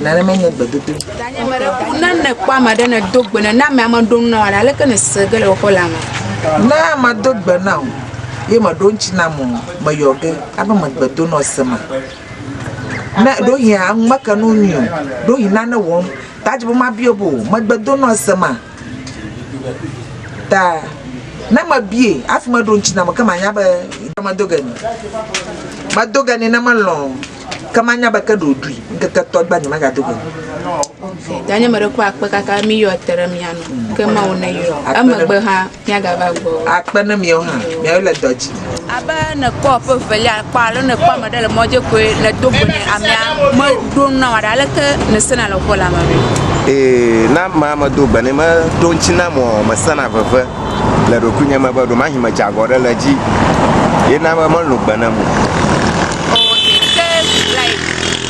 Nane menye gbedodo. Danye me ɖe ku ne ne kpɔ ame ɖe ne do gbe ne na ame ame ɖo na wa ale ke ne se ge le woƒe lame. Ne ame do gbe na o ye me ɖo ŋtsi na mo me yɔ ge abe me gbe do na se ma. Ne ɖo hi a ŋu me ke no nyi o ɖo hi na ne wɔm ta dzi bo ma bio bo me gbe do na se ma. Ta ne me bie afi me ɖo ŋtsi na me ke ma nya be me do ge ni. Me do ge ni ne me lɔn. Ke manya be ke ɖe wòɖui, ŋkeke etɔ̃ gbea nyemagado go o. Danye meɖe kpɔ akpe kaka miyɔ te ɖe mía nu, ke Mawu neyɔ. Emegbe hã míagava gbɔ o. Akpe ne miawo hã, miawo le dɔ dzi. Abe nèkpɔ ƒe evelia kpɔ alo nèkpɔ ame ɖe le mɔ dzi koe nèdo go nɛ amea meɖo nu na wò aɖe aleke nèsena le ƒe la me ɖoe. Ee, ne amea medo gbe nɛ meɖo ŋuti nam o, mesena veve. le ɖokuinye me be ɖomahi medze agɔ ɖe le dzi ye na be melũ gbe ne mo.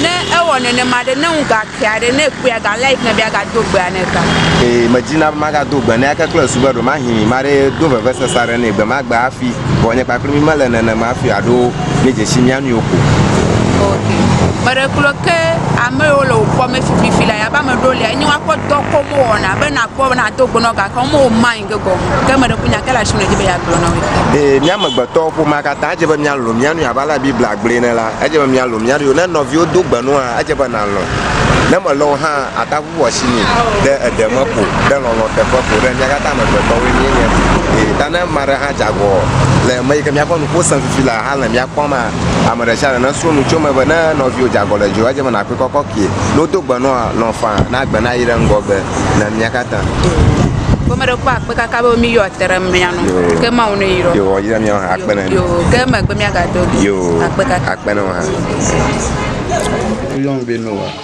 ne ewɔ nenema ɖe ne ŋu gakea ɖe ne ekpɔe aga like ne be aga do gbea ne ta. Ee medzi na be maga do gbe ne ake kple esu be ɖo mahi ma ɖe do vevesese aɖe ne gbe ma gbe afi vɔ nye kpakple mi mele nenema afi aɖo. ne dzesi mía nɔewo ko. Ok. Meɖe kplɔ ke ame yiwo le wòkpɔ me fififi la yabe ame ɖewo lia enye woakpɔ dɔ ko me wɔna be nakpɔ be nado go nɔ gake wome wo mind ge gɔme o. Ke meɖe ku nya ke le asi me edzi be yeagblɔ na woe. Ee, mía amegbetɔwo ƒomea katã edze be míalɔ̃ mía nɔewo abe ale Biblia gblɔe ene la, edze be míalɔ̃ mía ɖokuiwo. Ne nɔviwo do gbe nɔa, edze be nàlɔ̃. Ne melɔ̃ o hã ate ŋu. Wowɔ asi nɛ ɖe eɖe me ko, ɖe lɔlɔ̃ teƒe ko, ɖe mía katã amegbetɔwoe míenye. Eye ta ne ame aɖe hã dze agɔ le eme yi ke míaƒe nuƒo sẽ fifi le hã le mía kpɔm maa, ame ɖe sia ɖe nesrɔ̃ nu tso eme be ne nɔviwò dze agɔ le dziwò edze be nàkpɔe kɔkɔkee. Ne wodo gbe nɔa, lɔ̃ faa, na gbe nayi ɖe ŋgɔgbe na mía katã. Ke mele kpɔ akpe kaka be mi yɔ te ɖe mía nu. Ke Mawu nu yi ɖɔ. Yo, yi ɖe mía hã akpe ne mi. Yo, ke emegbe mía ga do. Yo, akpe kaka. Akpe ne wò hã.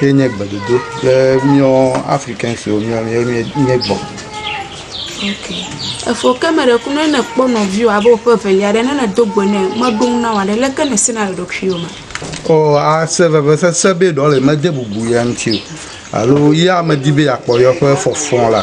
Ye nye gbedodo be míɔ Afrikanswo míɔ míɔ míɔ míɔ gbɔ. Ok. Efo ke me ɖe kunu ne kpɔ nɔviwo abe woƒe evelia ɖe ne ne do gbe ne meɖo ŋu na wa ɖe leke ne sena le ɖokuiwo me. O ase vevesese be ɖɔ le mede bubu ya ŋuti o alo ya medi be yakpɔ yeƒe fɔfɔ la.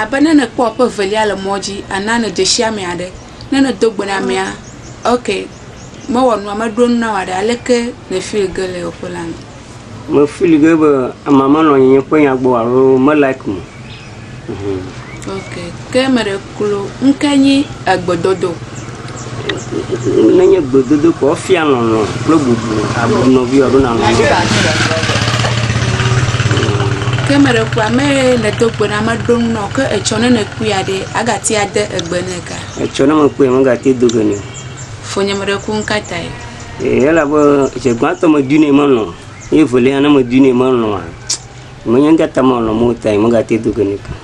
Abe ne nèkpɔ ƒe evelia le mɔ dzi ana nèdzesi ame aɖe. Ne nèdo gbe na amea, ok, mewɔ nua, meɖo nu na wòa ɖe, aleke nèfili ge le yeƒe la me? Mefili ge be amea menɔ nye ƒe nya gbɔ o alo me like meo. Ok, ke meɖe. Klo ŋke nyi egbedodo. Nenye gbedodo ko efia lɔlɔ̃ kple bubu abu nɔviwò alo nàlɔ̃ nɔviwò. Ke meɖe kpɔa ame nèdo gbe na meɖo nu nɔ ke etsɔ ne nèkpɔe aɖe agate ade egbe nɛ ga. Etsɔ ne mekpɔe megate do gbe nɛ. Fonye meɖe ku ŋkatae. Ee elabe dze gbãtɔ medui nɛ melɔ̃ ye evelia ne medui nɛ melɔ̃a menye ŋkata melɔ̃ mo tae megate do gbe nɛ.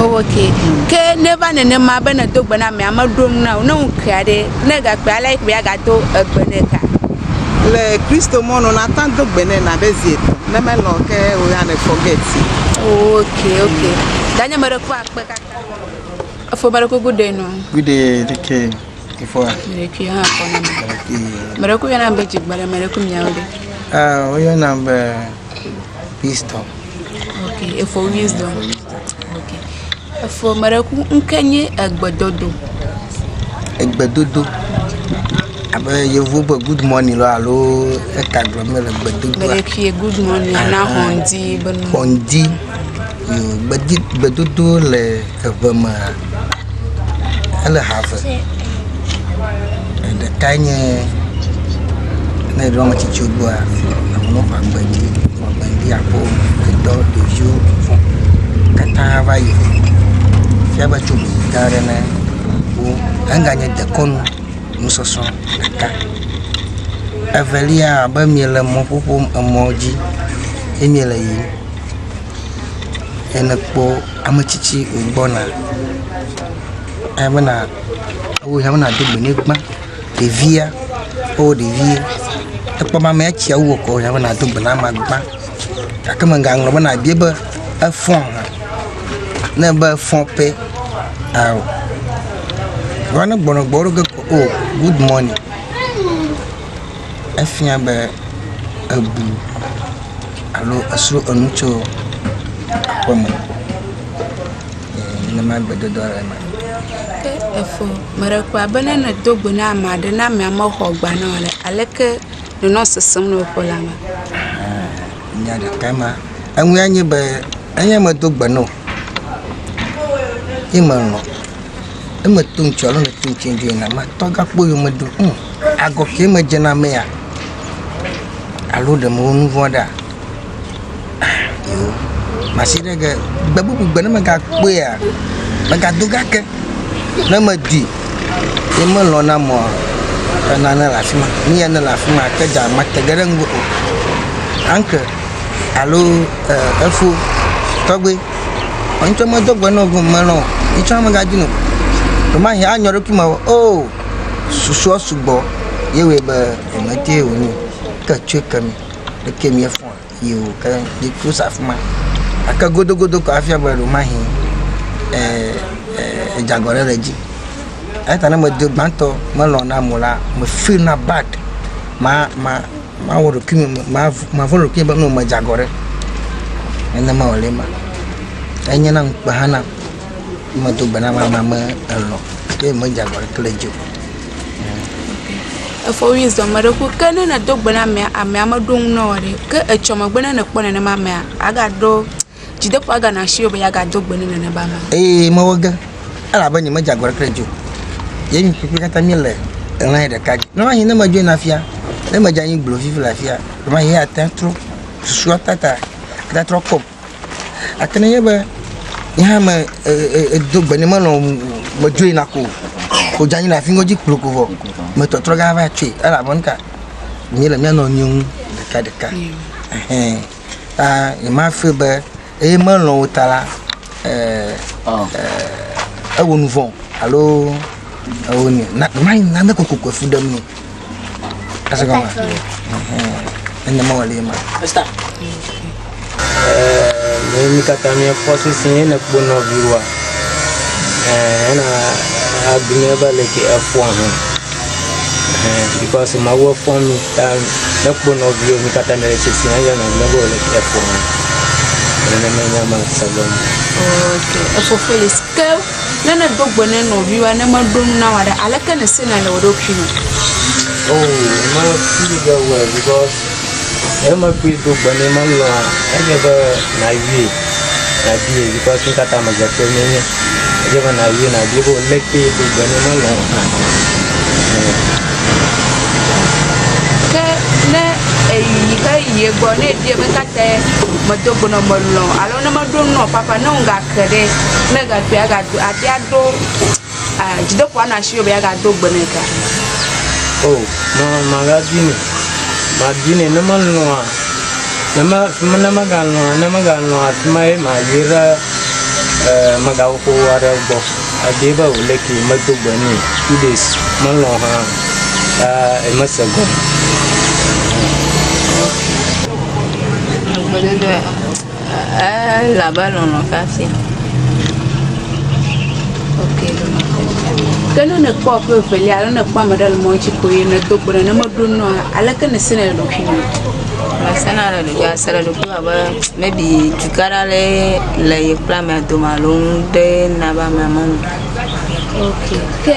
Oh, ok. Ke neva nenema be nèdo gbe na amea, meɖo nu na wò, ne ŋu kea ɖe, ne egakpea, alea yi kpɔe agado egbe nɛ ka? Le Kristo mɔ nu, nàtã do gbe nɛ nàɖe zi etɔ̃, ne melɔ̃ o ke o ya ne forget ye. Oh, ok, ok. Danye meɖe kpɔ akpe kaka. Efo meɖe ko good day nɔ. Good day, take care. Efoa. Meɖe kui hã kpɔ na me. Meɖe ko yɔna be dzigbele, meɖe ko miawo ɖe. Ah, woyɔnam be wisdom. Ok efɔ wisdom. Ok efɔ me ɖe ku ŋke nye egbedodo. Egbedodo abe yevu be good morning lɔ alo eka gblɔ mele gbedodo. Mele kie good morning ana xɔndi be. Xɔndi. Gbedzi gbedodo le eve me ele ha eve. Ɖeka nye ne eɖo ame tsitsi gbɔa amewo ƒe agbe dzi agbe dzi akpɔ ŋutɔ ɖeviwo fɔ katã va yi. Fia be tso ŋu gã aɖe me wo ega nye dekɔnu nusɔsrɔ ɖeka. Evelia abe mele mɔƒoƒo emɔ dzi ye mele yiyim. Ene kpɔ ame tsitsi wogbɔna eya bena wo ya bena do gbe ne gbã. Ɖevia kpɔ ɖevi ekpɔ be amea tsia wu ekɔ ya bena do gbe na amea gbã gake me gaŋlɔ bena ebia be efɔn hã ne be efɔ pɛ ao vɔ ne gbɔnɔgbɔ ɖo ge ko o gud mɔni. efia be ebu alo esro enu tso aƒe me nenema gbedada le eme. Ke efo meɖe kpɔa be ne nedo gbe na ame aɖe na amea mexɔ gba na o le aleke nenɔ sesem le woƒe la me. Nya ɖeka ma eŋu ya nye be enye medo gbe na o ye melɔ̃ eme to ŋtsɔ alɔ le to ŋtsɛ dzo yina ma tɔ ga kpɔ yome ɖo ŋ agɔ kɛ me dze na mea alo ɖe me wɔ nu vɔa ɖa masi ɖe ge gbe bubu gbe ne me ga kpɔea me ga do ga ke ne me di ye me lɔ na mɔ ena ne le afima ni ya ne le afima ke dza ma te ge ɖe ŋgo o anke alo e efo tɔgbe. Vɔ ŋtsɔ medo gbe nɔ gɔme nɔ o. Ŋtsɔ megadi nɔ. Vɔmahi anyɔ ɖokui me o susuɔ sugbɔ ye wɔɛ be emete o nyo ke tsɔe ke mi leke mi efɔn yi o ke mi ku sa fima. Gake godogodo kɔ afia be ɖomahi e e edze agɔ ɖe le dzi. Eyata ne medo gbãtɔ melɔ̃ na mo la me feel na bad ma ma. Mawɔ ɖokui me, mavɔ̃ ɖokui be no medze agɔ ɖe, nenema wòle ema. Enye na ŋukpe hã nam ne medo gbe na ame amea me elɔ̃ ye medze agɔ ɖeke le edzi o. Efɔ wui zɔ ame ɖe ku ke ne nèdo gbe na amea, amea meɖo ŋu na wò o ɖe, ke etsɔ megbe ne nèkpɔ nenema amea, agaɖo. Dzideƒo agana asi wò be yeagado gbe ne nane be ame aɖe. Eye mewɔ ge, elabe nyemedze agɔ aɖeke ɖe edzi o. Ye mi kpekpe katã miele ɣlanye ɖeka dzi. Lɔ̃ anyi ne medzoe na fia, ne medze anyi gblɔ vivi le afia, lɔ̃ anyi eya tea trɔ susua ta ta ata trɔ kpɔm. Gake nenye be nye hã me e edo gbe nɛ melɔ̃ medzoe na ko o, ko dze anyi le afi ŋɔdzi kplo ko vɔ me tɔtrɔ ge ava tsoe. Elabe nu ka? Míele mía nɔnɔewo ŋu ɖekaɖeka. Ehɛ̃. ta nyemafee be eye melɔ̃ wo ta la, eh, oh. eh, ewo nu vɔ̃ alo ewo ne na ma na ne koko koko fu ɖem ni. Ase kɔn ma. Eh, ne ma wale ma. Esta. Eh, ne mi kata mi fɔ sisi ne kpo nɔ viwa. Eh, na adunya ba le ke afɔ hɔn. Ɛhɛn, because Mawu efɔ mí ta mekpɔ nɔviwo mí katã mele tsitsi hã yɔna mí be wole efɔ mí. Nenema nya ma se be mí. Ok, efɔ Felix. Ke ne nèdo gbe ne nɔviwoa ne meɖo nu na wò aɖe, aleke nèsena le wò ɖokui me? Oh, me feel very well because Emegbe do gbe nɛ mɔ lɔ̃ enye be nàyɔe, nàbie yike woate ŋu kata amegbetɔe mee nye. Enye be nàyɔe nàbie be lé kee do gbe nɛ mɔ lɔ̃ hã. Ke ne èyi heyi ye gbɔ ne èbiae be ka tae medo gbe nɔ melɔ̃ alo ne meɖo nu nɔ ƒaƒã ne ŋugake ɖe, ne egakpɔe agado abia ɖo Ah, dzideƒoa nɔ asiwò be yeagado gbe nɛ ga. Oh, ma, magadinɛ. Madinɛ, ne melɔ̃a, ne me, fima, ne megalɔ̃a, ne megalɔ̃a fima ye mayi ɖe, eh, megawoko aɖe gbɔ. Ebie be o leke medo gbe nɛ two days melɔ̃ hã o. Eh, emese gɔme. Gbedodoɖa. Ele abe lɔlɔ̃ ƒe afia. Ok, lɔlɔ̃ ƒe afia. Ke ne nèkpɔ ƒe evelia alo nèkpɔ ame aɖe le mɔ dzi ko eye nèdo gbe nɛ ne meɖo nu oa, aleke nèsena le ɖokuiwò? Mesena le ɖokuiwò, ase le ɖokuiwò abe maybe dugã aɖe aɖee le ye kple amea dome alo nu ɖee na be amea melɔ̃ o. Ok. Ke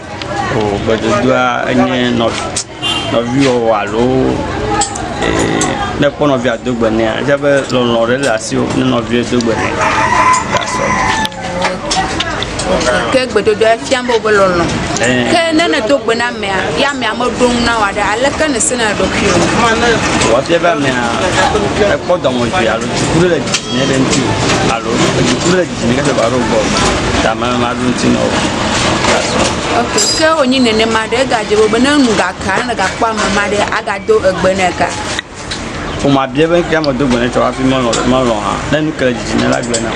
O gbedodoɖa enye nɔviwɔwɔ alo ne kpɔ nɔvia do gbe nɛ efia be lɔlɔ̃ ɖe le asiwò ne nɔvia do gbe nɛ. Ke gbedodoɖa fia be wobe lɔlɔ̃. Ke ne nèdo gbe na amea ya amea meɖo ŋu na wò aɖe aleke nèsena ɖokuiwò? Wòafia be amea ekpɔ dɔmedzoe alo dziku ɖe le dzi nɛ ɖe ŋuti alo dziku ɖe le dzi. Ke wònyi nenema ɖe, egadze ƒo be ne enu gake aɖe gakpɔ ame ma ɖe, agado egbe nɛ ka? Ƒome abia be ŋkee medo gbe nɛ tsɔ hafi melɔ̃ hã. Ne nu ke le dzidzim nɛ la, egblɔe nam.